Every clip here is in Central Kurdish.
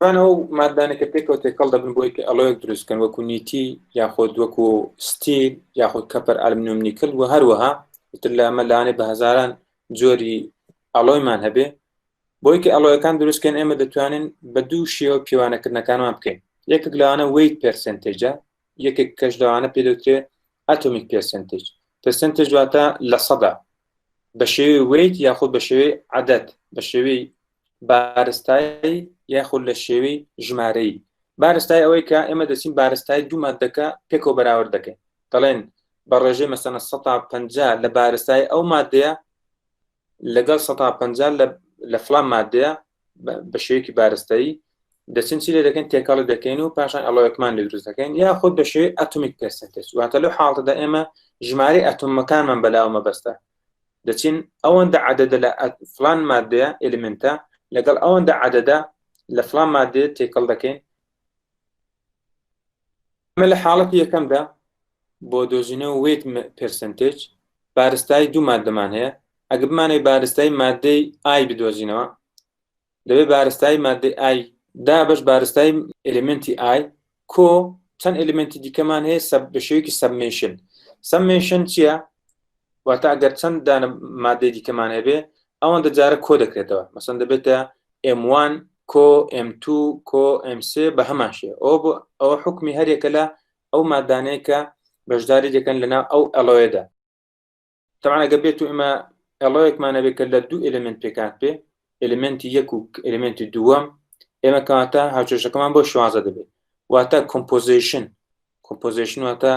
بانە ئەو مادانەکە پێکەوە تێکەڵ دەبن بۆی کە ئەڵۆیەک دروستکەن وەکو نیتی یاخۆد وەکو ستی یاخود کەپەر ئەلمنوم نیکل و هەروەها تر لە ئەمە لاانێ بە هزاران جۆری ئەڵۆیمان هەبێ بۆی کە ئەڵۆیەکان دروستکەن ئێمە دەتوانین بە دوو شێوە پیوانەکردنەکانمان بکەین یەکێک لەوانە ویت پرسنتێجە یەکێک کەش لەوانە پێدەوترێ ئەتۆمیک پرسنتێج پرسنتێج دواتە لە سەدا بە شێوی ویت یاخود بە شێوەی عادەت بە شێوی بارستایی یاخود لە شێوەی ژمارەیی بارستای ئەوەی کە ئێمە دەچین بارستای دوو مادەکە پێکەوە بەراورد دەکەین دەڵێن بە ڕێژەی مەسەنە 150 لە بارستای ئەو مادەیە لەگەڵ 150 لە فلان مادەیە بە شێوەیەکی بارستایی دەچین چی لێ دەکەین تێکەڵی دەکەین و پاشان ئەڵۆەکمان لە دروست دەکەین یا خۆ بە شێوی ئەتومیک پرسنتج واتە لەو حاڵتەدا ئێمە ژماری ئەتومەکانمان بەلاوە مەبەستە دەچین ئەوەندە عددە لە فلان مادەیە ئلیمنتە لەگەڵ ئەوەندە عددە لە فلان مادێ تێکەڵ دەکەین ئەمە لە حاڵەتی یەکەمدا بۆ دۆزینەوە وێت پرسنتێج بارستای دوو مادەمان هەیە ئەگە بمانەوەی بارستای مادەی ئای بدۆزینەوە لەوێ بارستایی مادەی ئای دابش بارستایی ئەلمنتی ئای کۆ چەند ئەلمنتی دیکەمان هەیە سەب بە شێوکی سەبمیشن سەبمیشن چییە واتە ئەگەر چەند دانە مادەی دیکەمان هەبێ ئەوان دەجارە کۆ دەکرێتەوە مەسەن دەبێتە M1 کۆ M2 کۆ M3 بە هەمان شێ ئەو بۆ ئەو حکمی هەرێکە لە ئەو مادانەیە کە بەشداری دەکەن لەناو ئەو ئەلۆێدا تەعا ئەگە بێت و ئمە ئەڵەیەکمانە بێت کە لە دوو ئلمنت پێکات پێ ئلمنتی یەک و ئلمنتی دووەم ئێمە کاتە هاوچێشەکەمان بۆ شوازە دەبێت واتە کۆمپۆزیشن کۆمپۆزیشن واتە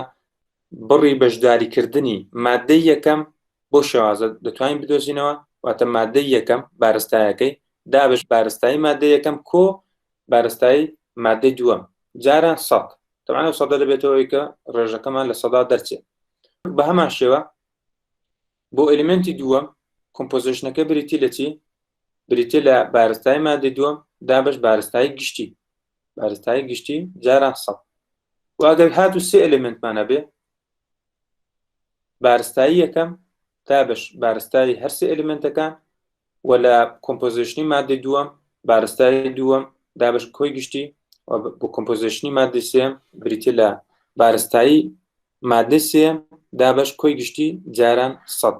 بڕی بەشداریکردنی مادەی یەکەم بۆ شێوازە دەتوانین بدۆزینەوە واتە مادەی یەکەم بارستایەکەی دابش بارستایی مادە یەکەم کۆ بارستایی مادەی دووەم جاران سەد تەبعەن ئەو سەدە دەبێتەوەی کە ڕێژەکەمان لە سەدا دەرچێت بە هەمان شێوە بۆ ئەلیمنتی دووەم کۆمپۆزیشنەکە بریتی لە چی بریتە لە بارستای مادە دووەم دابش بارستای گشتی بارستای گشتی جاران سە واگەر هات و سێ ئەلمنتمانە بێ بارستایی یەکەم، دابەش بارستایی هەر سێ ئەلیمێنتەکان، و لە کۆمپۆزیشنی ماددەی دووەم، بارستایی دووەم، دابەش کۆی گشتی، و بۆ کۆمپۆزیشنی ماددەی سێم بریتیە لە بارستایی ماددەی سێم، دابەش کۆی گشتی جاران سەد.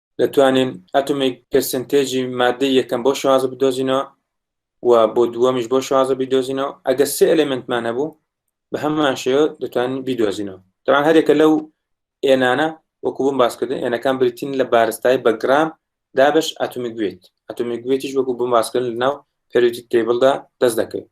دەتوانین ئەتومی پرسنتێجی مادەی یەکەم بۆ شازە بدۆزینەوە و بۆ دووەمیش بۆ شازە بیدۆزینەوە ئەگە سێ ئەلمنتمان هەبوو بە هەمان شێوە دەتوانین بیدۆزینەوە دەوان هەرێکە لەو ئێنانە وەکو بم باسکردن ئێنەکان بریتین لە بارستای بە گرام دابش ئەتومی گوێت ئەتومی گوێتیش وەکو بم باسکردن لەناو پێروتی تێبڵدا دەست دەکەوێت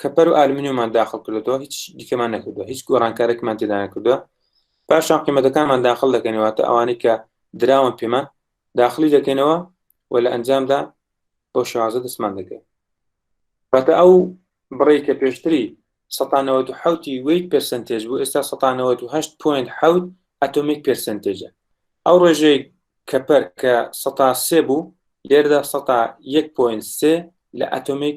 کەپەر و ئالمینیومان داخل کردەوە هیچ دیکەمان نەکردو هیچ گۆڕانکارێکمان تێدا نەکردووە پاشان قیمەتەکانمان داخل دەکەنەوەتە ئەوانەی کە دراون پێمان داخلی دەکەینەوە و لە ئەنجامدا بۆ شازە دەستمان دەکەین بەتە ئەو بڕی کە پێشتری 1970 ویت پرسنتێج بوو ئێستا 1970 ئەتۆمیک پرسنتێجە ئەو ڕێژەی کەپەر کە 1970 بوو لێردا 1 پوین سێ لە ئەتۆمیک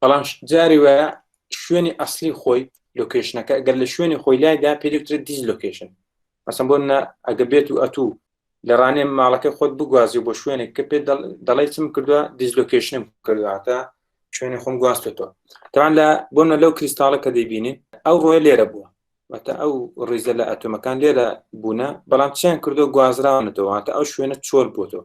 بەڵام جاری وە شوێنی ئەسلی خۆی لۆکیشنەکە گەر لە شوێنی خۆی لایدا پێدکتر دیز لۆکیشن مەسم بۆ منە ئەگە بێت و ئەتوو لە ڕانێ ماڵەکە خۆت بگوازی بۆ شوێنێک کە پێ دەڵی چم کردووە دیزلۆکیشنم کردواتە شوێنی خۆم گواستێتەوە تاوان لە بۆنە لەو کریستاڵە کە دەیبینین ئەو ڕۆی لێرە بووە واتە ئەو ڕیزە لە ئەتۆمەکان لێرە بوونە بەڵام چیان کردو گوازراونەتەوە واتە ئەو شوێنە چۆل بۆتەوە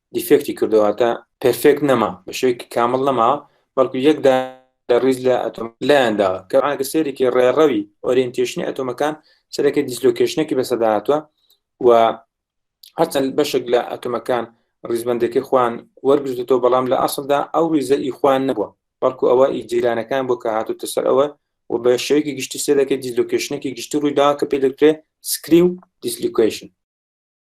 دیفێکتی کردو هاتە پرفێکت نەما بە شێوەیەکی کامڵ نەما بەڵکو یەکدا لە ڕیز لە ئەتۆم لایەندا کە ئاگە سێرێکی ڕێڕەوی ئۆرینتێشنی ئەتۆمەکان سەرەکە دیسلۆکێشنێکی بەسەدا هاتووە و هەرچەند بەشێک لە ئەتۆمەکان ڕیزبندەکەی خوان وەرگرتەوە بەڵام لە ئەسلدا ئەو ریزە ئی خوان نەبووە بەڵکو ئەوە ئی جیرانەکان بۆ کە هاتوتە سەر ئەوە و بە شێوەیەکی گشتی سێ دەکە دیسلۆکێشنێکی گشتی ڕوویدا کە پێ دەکرێت سکری و دیسلیکویشن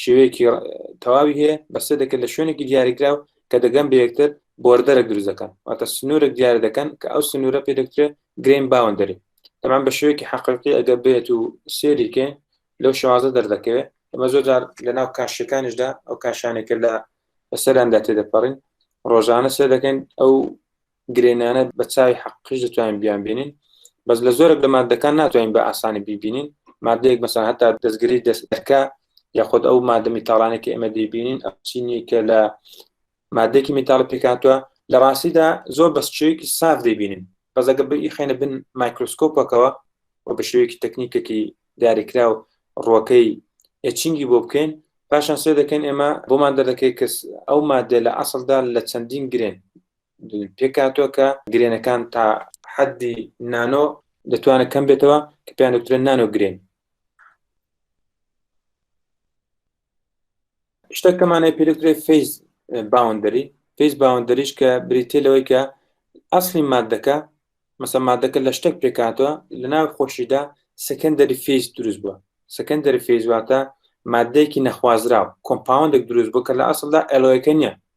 شێوەیەکی تەواوی هەیە بەسێ دەکرد لە شوێنێکی دیاریکراو کە دەگەم بەیەکتر بۆردەرە دروزەکان واتە سنوورێک دیار دەکەن کە ئەو سنوورە پێ دەکترێ گرین باوەندەری تەمان بە شوێکی حەقیقی ئەگە بێت و سێریکێ لەو شوازە دەردەکەوێت ئەمە زۆر جار لە ناو کاشەکانیشدا ئەو کاشانێکە لە بەسەراندا تێدەپەڕین ڕۆژانە سێ دەکەین ئەو گرێنانە بە چاوی حەقیش دەتوانین بیان بینین بەس لە زۆرێک لە مادەکان ناتوانین بە ئاسانی بیبینین مادەیەک مەسان هەتا دەستگری دەستەکە یاخود ئەو مادە میتاڵانێک کە ئێمە دەیبینین ئەچینی کە لە مادێکی میتال پێکاتوە لە ڕاستیدا زۆر بە شێوەیەکی ساف دەبینین بەزەگە بی خێنە بن مایکرۆسکۆپەکەەوە و بە شێوەیەکی تەکنیکێکی دیاریکرا و ڕۆکەی ئەچینگی بۆ بکەین پاشان سێ دەکەین ئێمە بۆمان دەردەکەی کەس ئەو مادە لە ئەسڵدا لە چەندین گرێن پێکهاتووە کە گرێنەکان تا حەدی نانۆ دەتوانێت کەم بێتەوە کە پێیان دەوترێن نانۆ گرێن شتەکەمانەی پێدەکرێ فیز باوەندەری فیز باوەندەریش کە بریتێ لەوەی کە ئەسلی مادەکە مەسە مادەکە لە شتێک پێکاتوە لە ناو خۆشیدا سەکەندەری فیز دروست بووە سەکەندەری فیزواتە مادەیەکی نەخوازراو کۆمپاوندێک دروست بوو کە لە ئەسلدا ئەلۆەکە نیە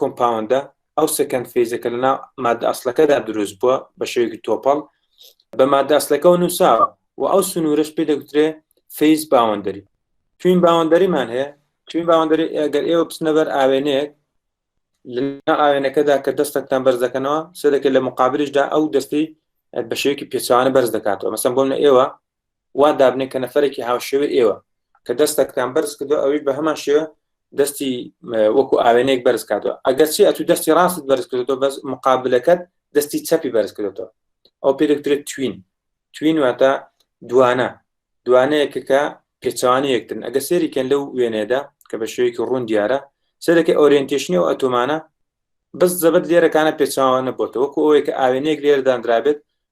کۆمپاوندە، ئەو سێکەند فێزە کە لەناو ماددە ئەسڵەکەدا دروست بووە بە شێوەیەکی تۆپەڵ بە ماددە ئەسڵەکەەوە نووساوە و ئەو سنوورەش پێ دەگوترێ فیز باوەندەری توین باوەندەریمان هەیە توین باوەندەری ئەگەر ئێوە بچنە بەر ئاوێنەیەک لەنا ئاوێنەکەدا کە دەستەکتان بەرز دەکەنەوە سەدەکە لە مقابلشدا ئەو دەستی بە شێوەیەکی پێچوانە بەرز دەکاتەوە مەسم بۆم لە ئێوە وا دابنێ کە نەفەرێکی هاوشێوەی ئێوە کە دەستەکتان بەرز کردو ئەوی بە هەمان شێوە دەستی وەکو ئاوێنێک بەرز کاتەوە ئەگەرچی ئەتو دەستی ڕاست بەرز کردو بەس مقابلەکەت دەستی چەپی بەرز کردو ئەو پێدەکترێت توین توین واتە دوانە دوانەیەکەکە پێچوانی یەکترن ئەگە سێریکەن لەو وێنێدا کە بە شێوەیەکی ڕوون دیارە سەرەکە ئۆریەنتێشنی و ئەتۆمانە بەس زەبەت لێرەکانە پێچوانە بۆتە وەکو ئەوەیە کە ئاوێنەیەک لێرداندرابێت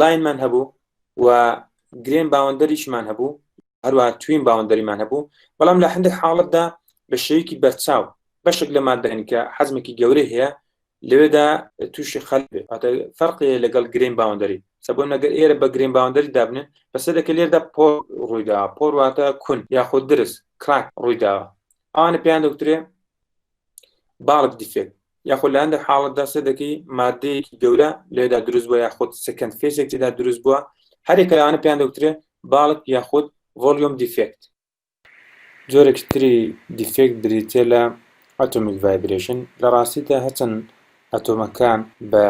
لاینمان هەبوو و گرێن باوەندەریشمان هەبوو هەروە توین باوەندەریمان هەبوو بەڵام لە هەندێک حاڵتدا بە شێوکی بەرچاو بەشێک لە مادەن کە حەزمێکی گەورە هەیە لەوێدا تووشی خەل فەرقی لەگەڵ گرین باوەندەری سەبوو نەگەر ئێرە بە گرین باوەندەری دابنن بەسەرەکە لێردا پۆ ڕوویدا پۆرواتە کون یاخود درست کراک ڕوویداوە ئەوانە پێیان دەوترێ باڵک دیفێک یاخود لە هەندێک حاڵەتدا سێ دەکەی مادەیەکی گەورە لێدا دروست بووە یاخود سکند فێسێک تێدا دروست بووە هەرێکە لەوانە پێیان دەوترێ باڵک یاخود ڤۆلیۆم دیفێکت جۆرێکی تری دیفێکت بریتە لە ئەتۆمیک ڤایبرێشن لە ڕاستیدا هەچەند ئەتۆمەکان بە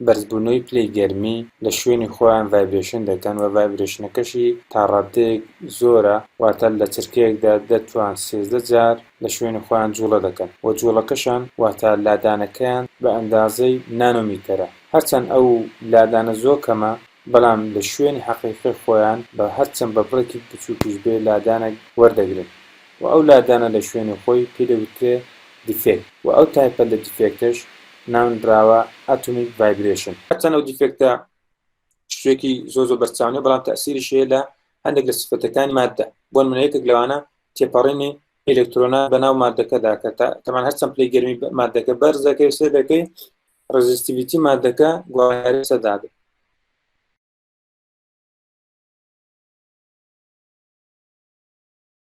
بەرزبوونەوەی پلەی گەرمی لە شوێنی خۆیان ڤایبرێشن دەکەن و ڤایبرێشنەکەشی تا ڕاددەیەک زۆرە، واتە لە چرکەیەکدا دە توان سێزدە جار لە شوێنی خۆیان جووڵە دەکەن و جووڵەکەشان واتە لادانەکەیان بە ئەندازەی نانۆمیتەرە، هەرچەند ئەو لادانە زۆ کەمە، بەڵام لە شوێنی حەقیقی خۆیان بە هەرچەند بە بڕێکیک بچووکیش بێ لادانەک وەردەگرن و ئەو لادانە لە شوێنی خۆی پێی دەگوترێ دیفێکت و ئەو تایپە لە دیفێکتەش ناونراوە ئاتۆمیک ڤایبرێشن. هەرچەند ئەو دیفێکتە شتێکی زۆر زۆر بەرچاو نیە بەڵام تەئسیریشی هەیە لە هەندێک لە سیفەتەکانی ماددە بۆ نموونە یەکێک لەوانە تێپەڕینی ئیلەکترۆنە بەناو ماددەکەدا کە تەمان هەرچەند پلەی گەرمی ماددەکە بەرز دەکەوێ سەیرەکەی ڕێزیستیڤیتی ماددەکە گۆڕانکاری لەسەر دابێت